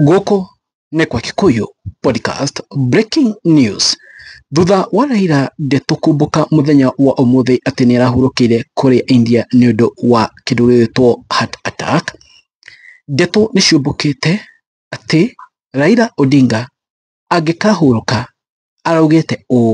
Gũkũ nĩ kwa Kikuyu Podcast Breaking News. Thutha wa Raila ndeto kumbũka mũthenya wa ũmũthĩ atĩ nĩ arahurũkĩire kũrĩa India nĩ ũndũ wa kĩndũ gĩgwĩtwo heart attack, ndeto nĩ ciumbũkĩte atĩ Raila Odinga angĩkahurũka araugĩte ũũ,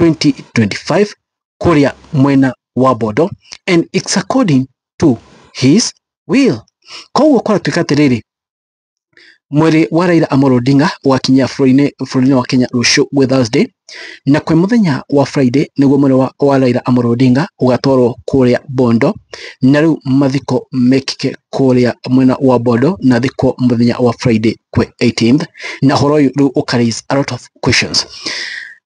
2025 kũrĩa mwena wa Bondo and it's according to his will. Koguo kwaratuĩka atĩrĩrĩ mwĩrĩ wa Raila Amolo Odinga ũgakinyia bũrũri-inĩ wa Kenya rũciũ gwĩ Thursday na kwĩ mũthenya wa Friday nĩguo mwĩrĩ wa, wa Raila Amolo Odinga ũgatwarwo kũrĩa Bondo na rĩu mathiko mekĩke kũrĩa mwena wa Bondo na thikwo mũthenya wa Friday kwĩ 18th na ũhoro ũyũ rĩu ũka raise a lot of questions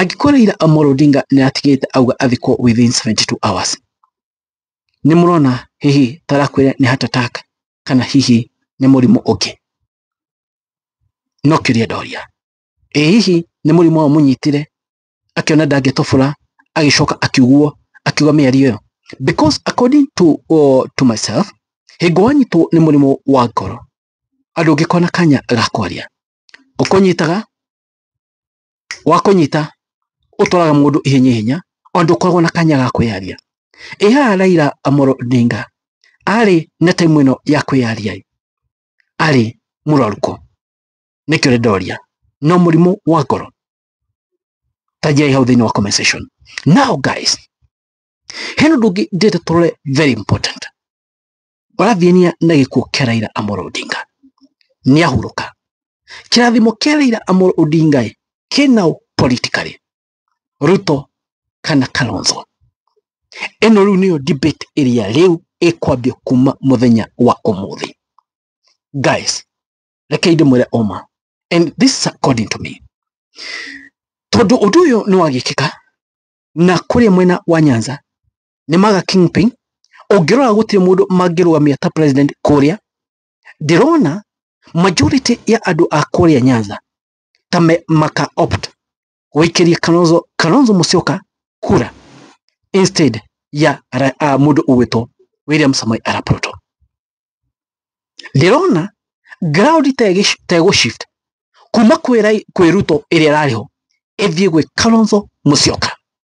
angĩkorwo Raila Amolo Odinga nĩ atigĩte auga athikwo within 72 hours nĩ mũrona hihi tarakwĩra nĩ heart attack kana hihi nĩ mũrimũ ũngĩ no kĩũria ndoria ĩ hihi nĩ mũrimũ wa mũnyitire akĩona ndangĩtobora agĩcoka akiugwo akiuga mĩario ĩyo because according to, uh, to myself hingo wanyitwo nĩ mũrimũ wa ngoro andũ ũngĩkona kanya ga kwaria ũkũnyitaga wa kũnyita ũtwaraga mũndũ ihenya ihenya ona ndũkoragwo na kanya ga kwĩyaria ĩ haha Raila Amolo Odinga arĩ na time ĩno ya kwĩyaria ĩ, arĩ mũrwaru kũ nĩkĩo rĩ ndoria no mũrimũ wa ngoro tanjai hau thĩinĩ wa comment section now guys hena ũndũ ũngĩ ndĩrenda tũrore very important ũrathiania na gĩkuũ kĩa Raila Amolo Odinga nĩahurũka kĩrathimo kĩa Raila Amolo Odinga ĩ kĩna ũ politically Ruto kana Kalonzo ĩno rĩu nĩyo debate ĩrĩa rĩu ĩkwambia kuma mũthenya wa ũmũthĩ guys rekei ndĩmwĩre ũma and this is according to me tondũ ũndũ ũyũ nĩ wagĩkĩka na kũrĩa mwena wa Nyanza nĩ maga kingpin ũngĩrora gũtirĩ mũndũ mangĩrũgamia ta president kũrĩa ndĩrona majority ya andũ a kũrĩa nyanza ta me, maka opt gũikĩria kalonzo kalonzo mũcioka kura instead ya ra, a, mũndũ ũgwĩtwo william samai arap ruto ndĩrona ground tegĩ- tegũ shift kuma kwĩ Rai- kwĩ ruto ĩrĩa ĩrarĩ ho ĩthiĩ gwĩ kalonzo mũcioka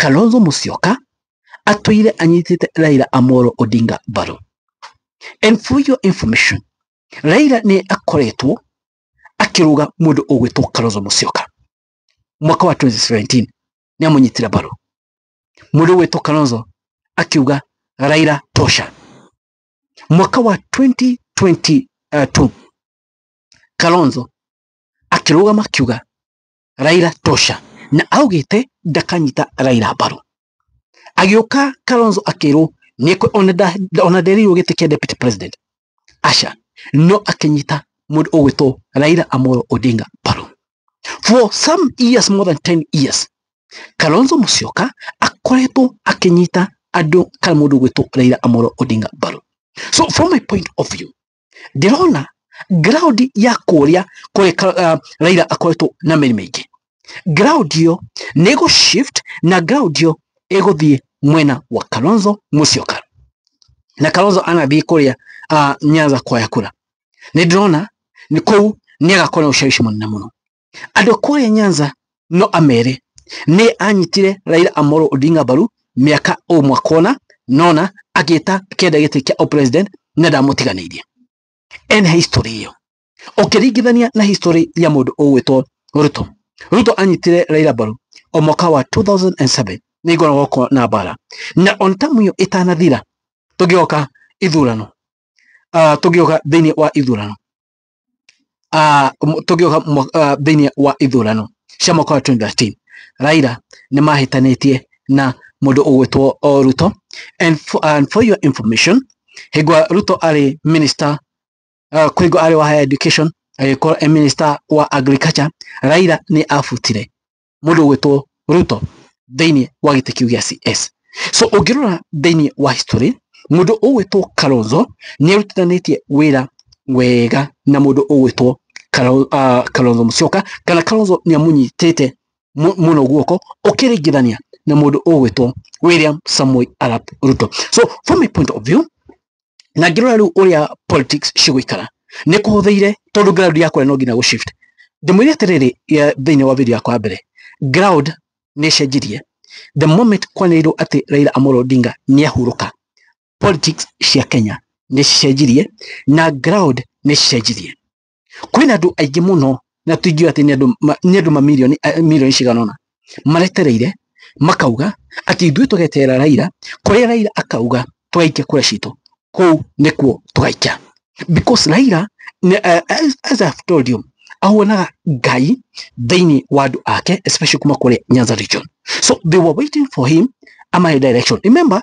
Kalonzo Musyoka atwire anyitite Raila Amolo Odinga mbaru. And for your information, Raila nĩ akoretwo akĩrũga mũndũ ũgwĩtwo Kalonzo Musyoka mwaka wa 2017 nĩ amũnyitire mbaru mũndũ ũgwĩtwo Kalonzo akiuga Raila tosha mwaka wa 2022 Kalonzo akĩrũgama akiuga Raila tosha na augĩte ndakanyita Raila mbaru agĩũka Kalonzo akĩrwo nĩ ona nderirwo gĩtĩ kĩa deputy president aca no akĩnyita mũndũ ũgwĩtwo Raila Amolo Odinga mbaru for some years more than 10 years Kalonzo Musyoka akoretwo akĩnyita andũ kana mũndũ ũgwĩtwo Raila Amolo Odinga mbaru so from my point of view ndĩrona ground ya kũrĩa kũrĩ uh, Raila akoretwo na mĩri mĩingĩ ground ĩyo nĩ ĩgũ shift na ground ĩyo ĩgũthiĩ mwena wa Kalonzo Musyoka na Kalonzo anathiĩ kũrĩa uh, Nyanza kwaya kura nĩ ndĩrona kũu nĩ agakorwo na ushawishi mũnene mũno andũ kũrĩa Nyanza no amere nĩ anyitire Raila Amolo Odinga mbaru mĩaka ũmwe kona nona agĩta kenda gĩtĩ kĩa o president na ndamũtiganĩirie ene history ĩyo ũkĩringithania na history ya mũndũ ũgwĩtwo Ruto Ruto anyitire Raila mbaru o mwaka wa 2007 nĩ ngoragwo ko na bara na on tamu ĩyo ĩtanathira tũgĩoka ithurano uh, tũgĩoka thĩinĩ wa ithurano ah, m- tũngĩũka mwa- ah, thĩinĩ wa ithurano cia mwaka wa 2013 raira nĩ mahĩtanĩtie na mũndũ ũgwĩtwo o ruto and for, and for your information hĩngwa ruto arĩ minister uh, kwĩngwa arĩ wa higher education agĩkorwo e minister wa agriculture raira nĩ abutire mũndũ ũgwĩtwo Ruto thĩinĩ wa gĩtĩ kĩu gĩa CS. So ũngĩrora thĩinĩ wa history, mũndũ ũgwĩtwo Kalonzo nĩ arutanĩtie wĩra wega na mũndũ ũgwĩtwo ah, Kalonzo Musyoka kana Kalonzo nĩ amũnyitĩte mũno guoko ũkĩringithania na mũndũ ũgwĩtwo William Samoei Arap Ruto. So from my point of view na ngĩrora rĩu ũrĩa politics cigũikara nĩ kũhũthĩire tondũ ground ya kũrĩa no nginya gũ shift ndĩmwĩre atĩrĩrĩ thĩinĩ wa video yakwa mbere ground nĩ ĩcenjirie the moment kwanĩrĩirwo atĩ Raila Amolo Odinga nĩ ahurũka politics cia Kenya nĩ cicenjirie na ground nĩ cicenjirie kwĩna andũ aingĩ mũno na tũingiũĩ atĩ nĩ andũ ma- nĩ andũ mamirioni a- milioni cigana ũna maretereire makauga atĩ ithuĩ tũgeterera Raila kũrĩa Raila akauga tũgaikia kura citũ kũu nĩkuo tũgaikia because Raila nĩ- eh, as, as I've told you ahuanaga ngai thĩinĩ wa andũ ake especially kuma kũrĩa Nyanza region so they were waiting for him amahe direction remember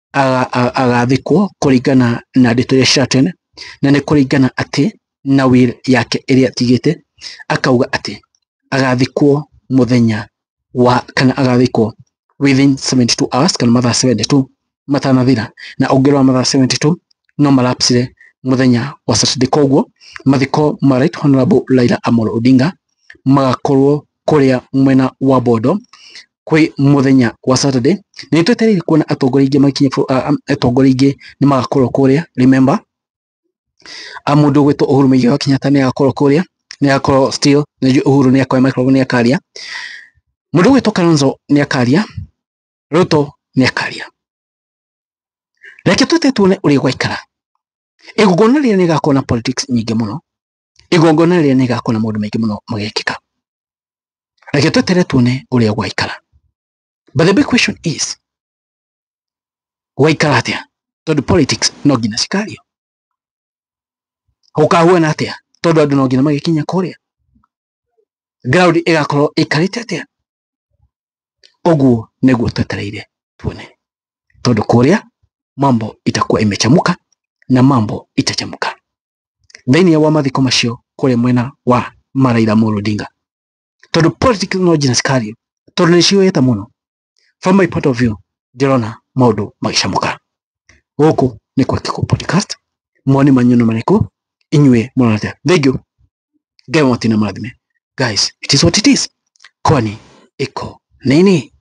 agathikwo kũringana na ndeto iria ciratene na nĩ kũringana atĩ na will yake ĩrĩa atigĩte akauga atĩ agathikwo mũthenya wa kana agathikwo within 72 hours kana mathaa 72 matanathira na ũngĩrora mathaa 72 no marapsire mũthenya wa Saturday koguo mathiko ma Right Honorable Laila Amolo Odinga magakorwo kũrĩa mwena wa Bondo kwĩ mũthenya wa Saturday nĩ twetereire kuona atongoria aingĩ makinye bũrũ- a- a- atongoria aingĩ nĩ magakorwo kũrĩa remember a mũndũ gwĩtwo Uhuru Mũigai wa Kenyatta nĩ agakorwo kũrĩa nĩ agakorwo still nĩ njũĩ Uhuru nĩ akoya microphone nĩ akaria mũndũ gwĩtwo Kalonzo nĩ akaria Ruto nĩ akaria reke twete tuone ũrĩa gwaikara igongona rĩrĩa nĩ gakorwo na politics nyingĩ mũno igongona rĩrĩa nĩ gakona maũndũ maingĩ mũno magekĩka reke twetere tuone ũrĩa gwaikara but the big question is gwaikara atĩa tondũ politics no nginya cikario gũkahuana atĩa tondũ andũ no nginya magĩkinya kũrĩa ground ĩgakorwo ĩkarĩte atĩa ũguo nĩguo twetereire tuone tondũ kũrĩa mambo itakuwa imechamuka na mambo itachamuka thĩinĩ wa mathiko macio kũrĩa mwena wa ma Raila Amolo Odinga tondũ politics no Gina Scario tondũ nĩ ciũyĩte mũno from my point of view ndĩrona maũndũ magĩcamũka gũkũ nĩ kwa Kĩkũ podcast moni manyu nĩ marĩkũ inyuĩ mũrona atĩa thank you ngai wa matũinĩ marathime guys it is what it is kwani iko nini